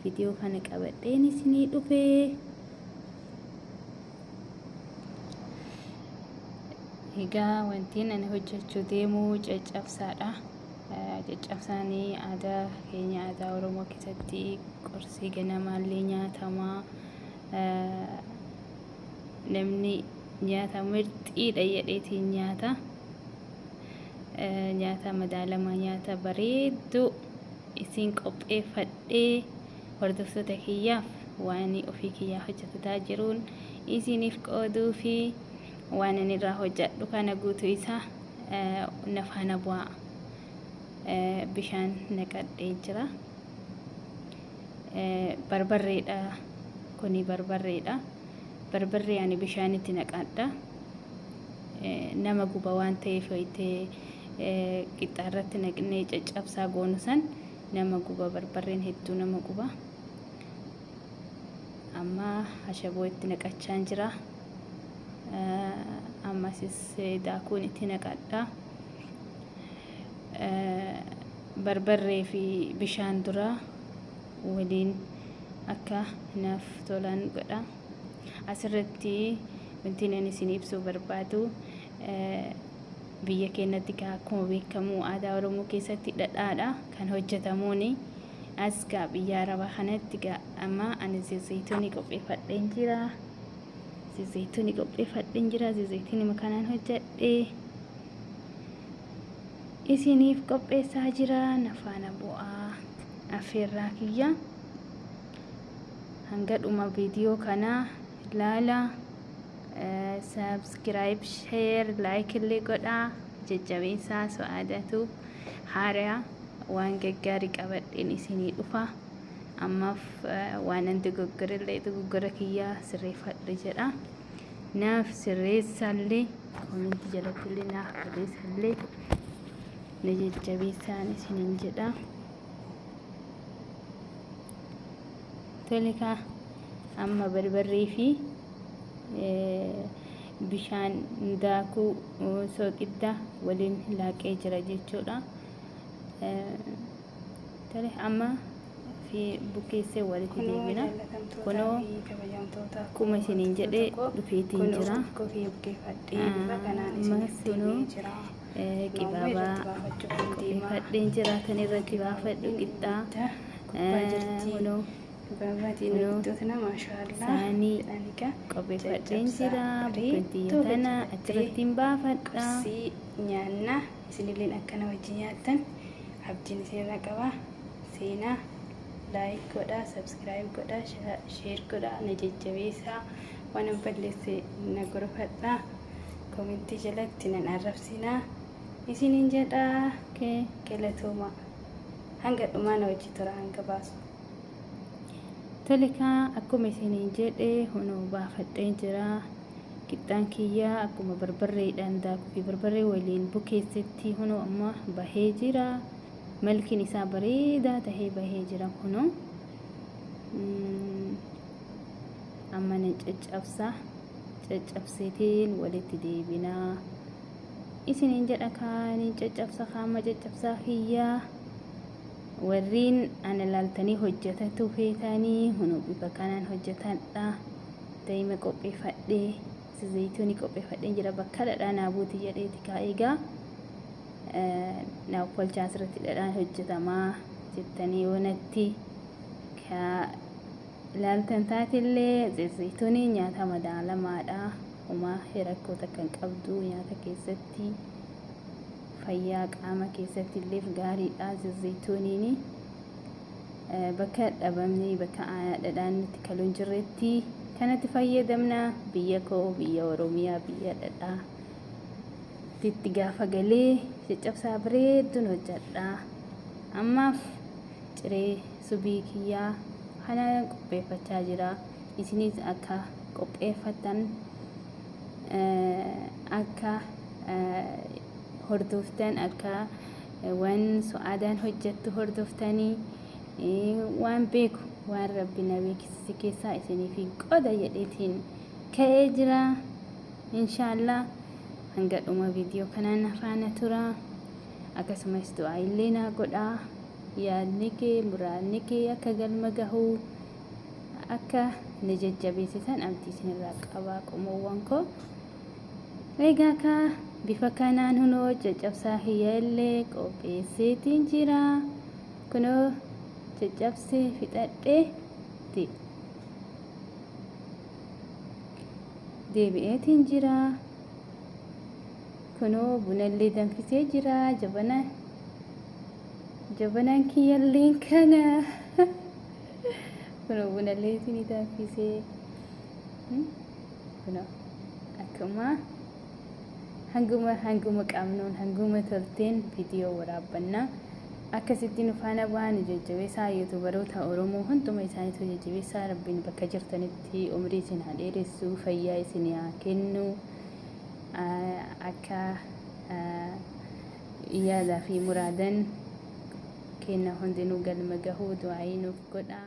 Video kana qabadheen isinii dhufe. Egaa wantiin ani hojjechuu deemu caccabsaadha. Caccabsaan aadaa keenya aadaa Oromoo keessatti qorsii ganamaallee nyaatama. Namni nyaata mirxiidha jedheetiin nyaata. Nyaata madaalamaa nyaata bareedduu. isiin qopheeffadhee hordoftoota kiyyaaf waanii ofii kiyyaa hojjatataa jiruun isiiniif qooduu fi waan ani irraa hojjadhu kana guutuu isaa na faana bu'aa bishaan naqadhee jira barbarreedha kuni barbarreedha barbarree ani bishaanitti naqadha nama guba waan ta'eef hoytee qixxaa irratti naqnee caccabsaa goonu san nama guba barbarreen hedduu nama guba amma ashaboo itti naqachaan jira ammasis daakuun itti naqadha barbarree fi bishaan dura waliin akka naaf tolaan godha asirratti wanti ani isin ibsuu barbaadu biyya keenyatti gaa akkuma beekamu aadaa Oromoo keessatti dhadhaadha kan hojjetamuun as gaa biyya arabaa kanatti gaa amma ani zayituunii qopheeffadheen jira zayituunii qopheeffadheen jira zayituunii makanaan hojjedhe isiniif qopheessaa jira nafaana bu'aa affeerraa kiyya hanga dhuma viidiyoo kanaa ilaala subscribe share like illee godhaa jajjabeessaa su'aadatu haariyaa waan gaggaarii qabadheen isinii dhufa ammaaf waanan dogoggore illee dogoggora kiyyaa sirreeffadhe jedha naaf sirreessaallee koominti jalatti illee naaf barreessallee na jajjabeessaan isiniin jedha tole kaa Amma barbarree fi bishaan daakuu sooqidda waliin laaqee jira jechuudha. Tole amma fi bukeessee walitti deebina. Kunoo akkuma isiniin jedhe dhufeetiin jira. Ammas kunoo qibaabaa qopheeffadheen jira kan irratti baafadhu qixxaa. Kunoo Gabaabaatiin Kunoo, hojjettootna maashaallah saanii jedhani gaa qopheeffadheen jajjabsaa jira bareedduu bukkuttiyyoo tana hojjetattee achirratti hin baafadha qursii nyaanna isinilleen akkana wajjin nyaattan abdiin isinirra qaba seenaa laayik godhaa sabskiraayib godhaa sha- sheer godhaa na jajjabeessaa waan an balleesse na gorfadhaa komentii jalatti nan arrabsinaa isinin jedhaa okay. galatoomaa hanga dhumaa na wajji tura hanga baasu Tolikaa akkuma isiniin jedhe hunoo baafadheen jira. Qixxaan kiyya akkuma barbarreedhaan daakuu fi barbarree waliin bukeessetti hunoo amma bahee jira. Malkiin isaa bareedaa tahee bahee jira kunoo. Amma nan caccabsa. Caccabseetiin walitti deebinaa. Isiniin jedha kaa niin caccabsa kaa amma caccabsaa kiyyaa. Warriin ana laaltanii hojjatatuu feetaanii hunu bifa kanaan hojjatadha. Daima qopheeffadhee si zayitooni qopheeffadheen jira bakka dhadhaa naa buuti jedheeti kaa egaa naa uffalchaa asirratti dhadhaan hojjatamaa jettanii yoo natti kaa laaltan taatellee zayitooni nyaata madaalamaadha. Homaa rakkoo takka hin qabdu nyaata keessatti. Fayyaa qaama keessatti illeef gaariidha zazayitooniini. Bakka dhabamni bakka dhadhaan itti kalu hin jirretti kanatti fayyadamna. Biyya koo biyya Oromiyaa biyya dhadhaa itti gaafa galee caccabsaa bareedduun hojjadha. Ammaaf ciree subii kiyyaa kanaan qopheeffachaa jira. Isinis akka qopheeffatan akka hordoftan akka waan su'aadaan hojjettu hordoftanii waan beeku waan rabbi na beeksise keessaa isiniif qoda jedheetiin ka'ee jira inshaallah hanga dhuma viidiyoo kanaan na faana tura akkasumas du'aa illee naa godhaa yaadni kee muraadni kee akka galma gahuu akka na jajjabeessitan abdii isinirraa qabaa qomoowwan koo Egaa kaa bifa kanaan hunoo caccabsaa kiyya illee qopheesseetiin jira. Kunoo caccabsee fixadheetti deebi'eetiin jira. Kunoo bunallee danfisee jira. Jabana jabanaan kiyyalleen kana. Kunoo bunallee isinii danfisee. Hmm? Kunoo akkuma hanguma hanguma qabnuun hanguma tolteen viidiyoo waraabbanna. Akkasitti nu faana bu'aa nu jajjabeessaa yuutubaroota Oromoo hunduma isaaniitu jajjabeessaa rabbiin bakka jirtanitti umrii isin haa dheeressu fayyaa isin haa kennu akka yaadaa fi muraadan kenna hundinuu galma gahuu du'aayii nuuf godhaa.